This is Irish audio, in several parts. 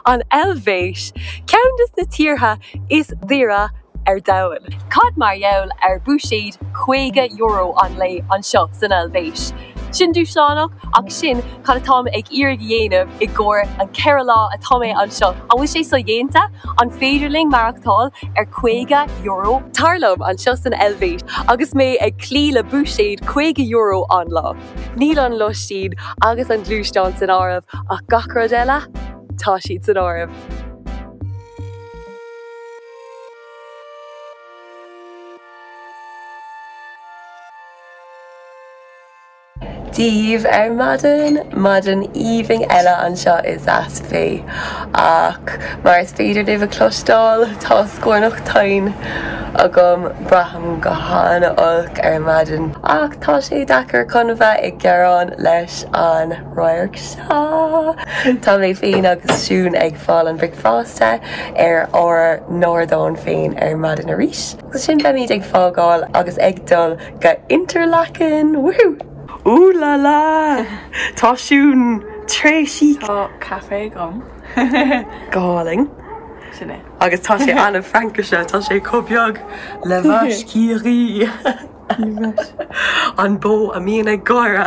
An Eilvéis, ceann de na tíortha is daoire ar domhan. Cad mar gheall ar bhuiséad €50 an lae anseo san Eilvéis? Sin dúshlánach ach sin cad atá mé ag iarraidh a dhéanamh i gcomhair an ceithre lá atá mé anseo. An bhfuil sé sodhéanta? An féidir linn maireachtáil ar €50? Tar liom anseo san Eilvéis agus mé ag cloí le buiséad €50 an lá. Níl an lóistín agus an gluaisteán san áireamh ach gach rud eile, tá siad san áireamh. díobh ar maidin, maidin aoibhinn eile anseo i Saas-Fee. Ach mar is féidir libh a cloisteáil, tá scornach tinn agam, braithim go han-olc ar maidin. Ach Tá sé deacair chun a bheith ag gearán leis an radharc seo. Tá mé féin agus Siún ag fáil an bhricfeasta ar ár n-ardán féin ar maidin arís. Ansin beimid ag fágáil agus ag dul go Interlaken! Woohoo! Ooh la la! Tá Siún très chic! Tá caife agam. Galling! Sin é. Agus tá sé an-Fhrancach, tá sé chomh beag le Bhaiscígí! An bó a bhíonn ag gáire.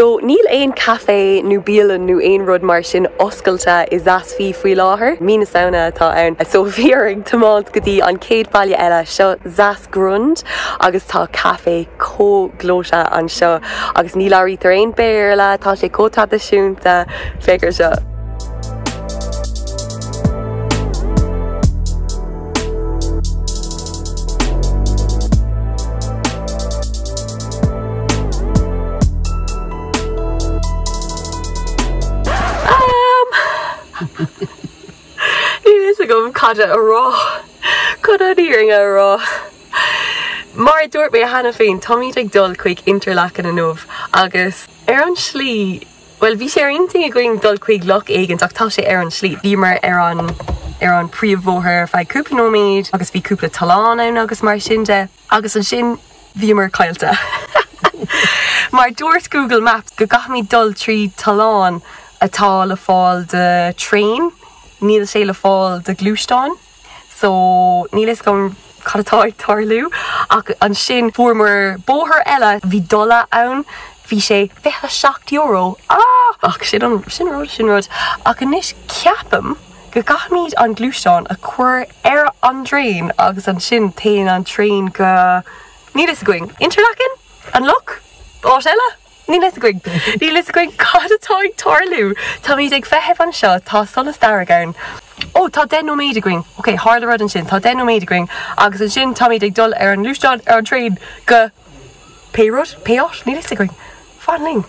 So, níl aon caife nó bialann nó aon rud mar sin oscailte i Saas-Fee faoi láthair. Mí na Samhna atá ann. So, bhí orainn tiomáint go dtí an chéad baile eile, seo Saas. Grund, agus tá café chomh gleoite anseo agus ní labhraítear aon Béarla, tá sé chomh traidisiúnta, féach ar seo. Níl a fhios agam cad a rá. Chun an fhírinne a rá? Mar a dúirt mé cheana féin, táimid ag dul chuig Interlaken inniu agus ar an tslí, bhuel, bhí sé ar intinn againn dul chuig loch éigint ach tá sé ar an tslí. Bhíomar ar an, ar an príomhbhóthar ar feadh cúpla nóiméad agus bhí cúpla tollán ann agus mar sin de. Agus ansin bhíomar caillte. Mar dúirt Google Maps go gcaithfimid dul trí tollán atá le fáil do traein, níl sé le fáil do ghluaisteán, so níl fhios agam cad atá ag tarlú. Ach ansin fuaireamar bóthar eile, bhí dola ann, bhí sé €27, ah! Ach sin an rud, sin rud. Ach anois ceapaim. go gcaithfimid an gluaisteán a chur ar an dtraein agus ansin téann an traein go, níl a fhios againn, Interlaken? An loch? Áit eile? Níl a fhios againn. Níl a fhios againn cad atá ag tarlú. Táimid ag feitheamh anseo, tá solas dearg ann. Ó, tá deich nóiméad againn. Ok, tharla rud ansin, tá deich nóiméad againn agus ansin táimid ag dul ar an ngluaisteán, ar an traein go pé rud, pé áit, níl a fhios againn. Fan linn.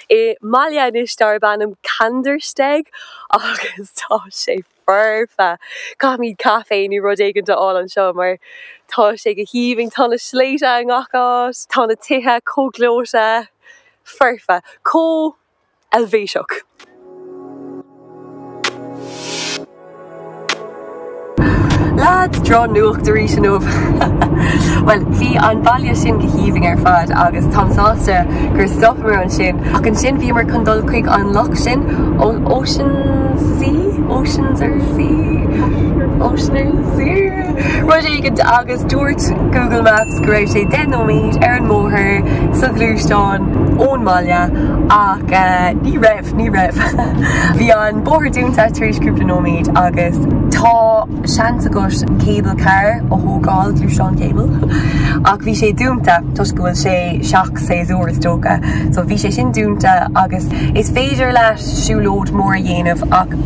I mbaile anois darb ainm Kandersteg agus tá sé foirfe. Caithfimid caife nó rud éigint a fháil anseo mar tá sé go haoibhinn. Tá na sléibhte i ngach áit. Tá na tithe chomh gleoite. Foirfe. Chomh Eilvéiseach. Leads, drochnuacht arís inniu. Bhuel, bhí an baile sin go haoibhinn ar fad agus táim sásta gur stopamar ansin ach ansin bhíomar chun dul chuig an loch sin, Oeschinensee? Oeschinensee? Oeschinensee? Rud éigint agus dúirt Google Maps go raibh sé deich nóiméad ar an mbóthar sa ghluaisteán ón mbaile ach ní raibh. Ní raibh. Bhí an bóthar dúnta tar éis cúpla nóiméad agus tá seans agat cable car a thógáil, gluaisteán cable, ach bhí sé dúnta toisc go bhfuil sé seachshéasúr is dócha, so bhí sé sin dúnta agus is féidir leat siúlóid mór a dhéanamh ach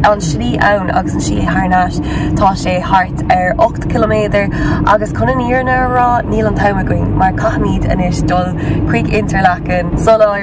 an slí ann agus an slí thar n-ais tá sé thart ar ocht ciliméadar agus chun an fhírinne a rá níl an t-am againn mar caithfimid anois dul chuig Interlaken sular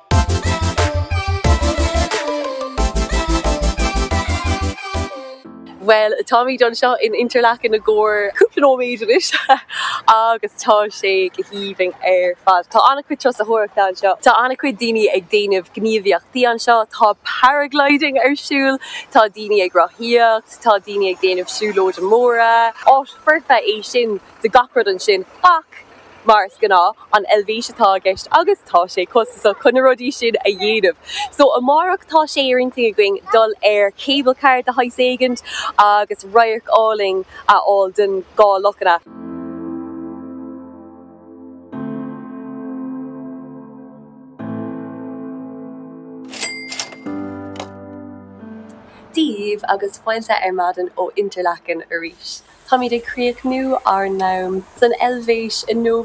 Bhuel, táimid anseo in Interlaken i gcomhair cúpla nóiméad anois agus tá sé go haoibhinn ar fad. Tá an-chuid turasóireachta anseo. Tá an-chuid daoine ag déanamh gníomhaíochtaí anseo, tá paragliding ar siúl, tá daoine ag rothaíocht, tá daoine ag déanamh siúlóidí móra. Áit foirfe é sin do gach rud mar sin ach. mar is gnáth, an Eilvéis atá i gceist agus tá sé costasach chun na rudaí sin a dhéanamh. So amárach tá sé ar intinn againn dul ar cable car de shaghas éigin agus radharc álainn a fháil den dhá lochanna. Dia dhaoibh agus fáilte ar maidin ó Interlaken arís. Táimid ag críochnú ár n-am san Eilvéis inniu.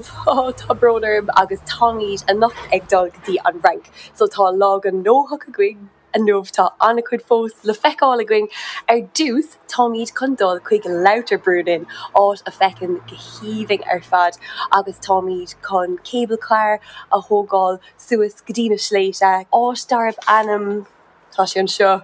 Tá brón orm agus táimid anocht ag dul go dtí an Fhrainc. So tá lá gnóthach againn inniu. Tá an-chuid fós le feiceáil againn. Ar dtús táimid chun dul chuig Lauterbrunnen, áit a feiceann go haoibhinn ar fad agus táimid chun cable car a thógáil suas go dtí na sléibhte, áit darb ainm Tá sé anseo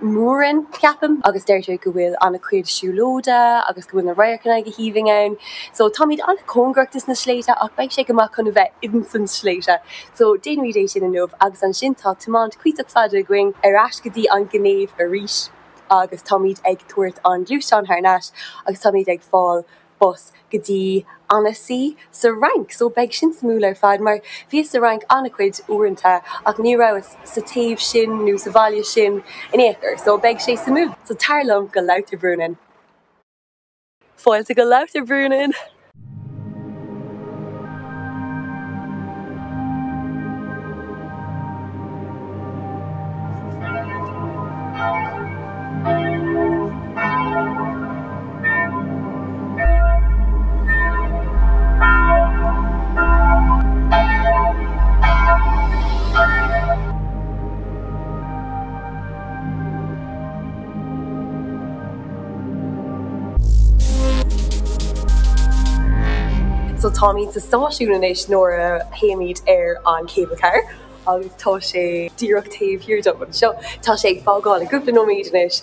Mürren, ceapaim, agus deirtear go bhfuil an-chuid siúlóidí agus go bhfuil na radharcanna go haoibhinn ann. So táimid an-chóngarach dos na sléibhte ach beidh sé go maith chun a bheith insan sléibhte. So déanfaimid é sin inniu agus ansin tá tiomáint cuíosach fada againn ar ais go dtí an Ghinéiv arís agus táimid ag tabhairt an gluaisteán thar nais agus táimid ag fáil bus go dtí Annecy sa Fhrainc so beidh sin suimiúil ar fad mar bhíos sa Fhrainc an-chuid uaireanta ach ní rabhas sa taobh sin nó sa bhaile sin in aon chor so beidh sé suimiúil. So tar liom go Lauterbrunnen. Fáilte go Lauterbrunnen! So táimid sa stáisiún anois ina dtéimid ar an cable car agus tá sé díreach taobh thiar dom anseo. Tá sé ag fágáil i gcúpla nóiméad anois.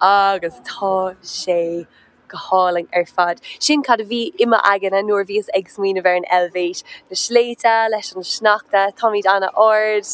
Agus tá sé go hálainn ar fad. Sin cad a bhí i m'aigne nuair a bhíos ag smaoineamh ar an Eilvéis. Na sléibhte, leis an sneachta, táimid an-ard.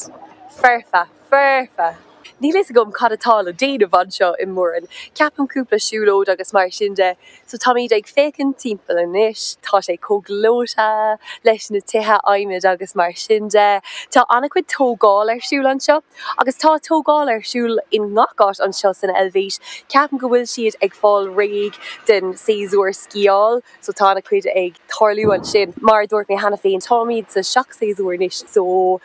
Foirfe! Foirfe! Níl a fhios agam cad atá le déanamh anseo i Mürren. Ceapaim cúpla siúlóid agus mar sin de, So táimid ag féachaint timpeall anois, tá sé chomh gleoite leis na tithe adhmaid agus mar sin de. Tá an-chuid tógáil ar siúl anseo agus tá tógáil ar siúl i ngach áit anseo san Eilvéis. Ceapaim go bhfuil siad ag fáil réidh don séasúr sciáil, so tá an-chuid ag tarlú ansin. Mar a dúirt mé cheana féin, táimid sa seacht-séasúr anois, so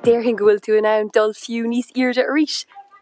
Déarfainn go bhfuil tú in ann dul fiú níos airde arís.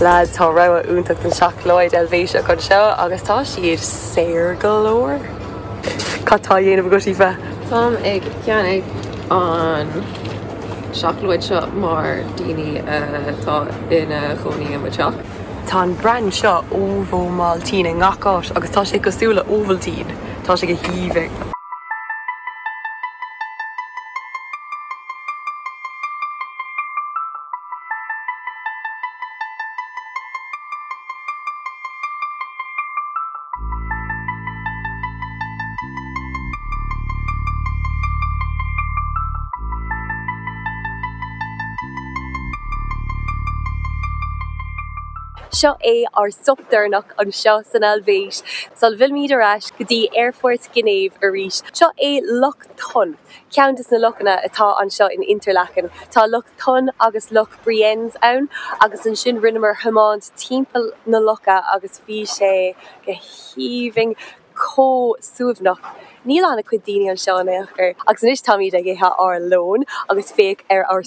Lads, tá rogha iontach den seacláid Eilvéiseach anseo agus tá siad saor go leor. Cad tá á dhéanamh agat, Aoife? Táim ag ceannaigh an seacláid seo i gcomhair daoine atá ina chónaí i mo teach. Tá an brand seo Ovomaltine i ngach áit agus tá siad cosúil le Ovaltine. Tá sé go haoibhinn. Seo é ár stop deireanach anseo san Eilvéis sula bhfillimid ar ais go dtí Aerfort Ghinéiv arís. Seo é Loch Thun. Ceann de na lochanna atá anseo in Interlaken, tá Loch Thun agus Loch Brienz ann agus ansin rinneamar thiomáint timpeall na locha agus bhí sé go haoibhinn, chomh suaimhneach. Níl an-chuid daoine anseo in aon chor. Agus anois táimid ag ithe ár lón agus féach ar ár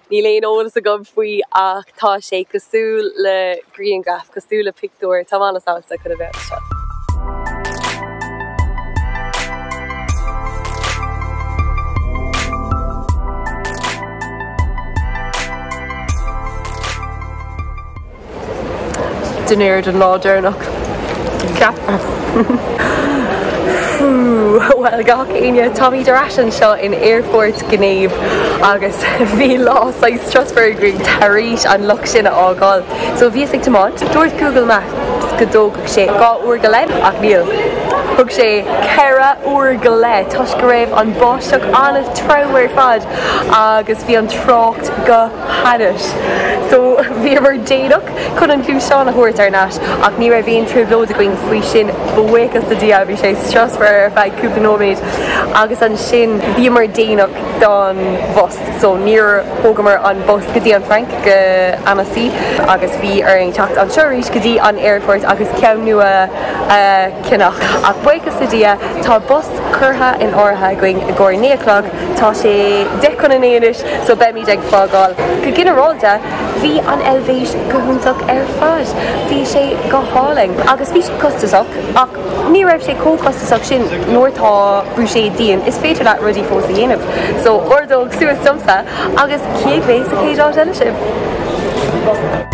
Níl aon eolas agam faoi ach tá sé cosúil le grianghraf, cosúil le pictiúr. Táim an-sásta chun a bheith anseo. Dinnéar den lá deireanach, ceapfá. Fú, bhuel, gach éinne, táimid ar ais anseo in Aerfort Ghinéiv agus bhí lá saghas strusmhar agam tar éis an loch sin a fhágáil. So bhíos ag tiomáint, dúirt Google Maps go dtógfadh sé dhá uair go leith ach níl, thug sé ceithre uair go leith toisc go raibh an bháisteach an-trom ar fad agus bhí an trácht go hainnis. So bhíomar déanach chun an gluaisteán a thabhairt thar n-ais ach ní raibh aon trioblóid againn faoi sin, buíochas le Dia. Bhí sé strusmhar ar feadh cúpla nóiméad agus ansin bhíomar déanach don bhus so níor thógamar an bus go dtí an Frainc, go Annecy agus bhí orainn teacht anseo arís go dtí an aerfort agus ceann nua a cheannach. Ach buíochas le Dia, tá bus curtha in áirithe againn i gcomhair naoi a chlog. Tá sé deich chun a naoi anois so beimid ag fágáil. Go ginearálta, bhí an Eilvéis go hiontach ar fad. Bhí sé go hálainn agus bhí sé costasach ach ní raibh sé chomh costasach sin nuair atá buiséad dian is féidir leat rudaí fós a dhéanamh. So ordóg suas uaimse agus cífidh mé sa chéad áit eile sibh?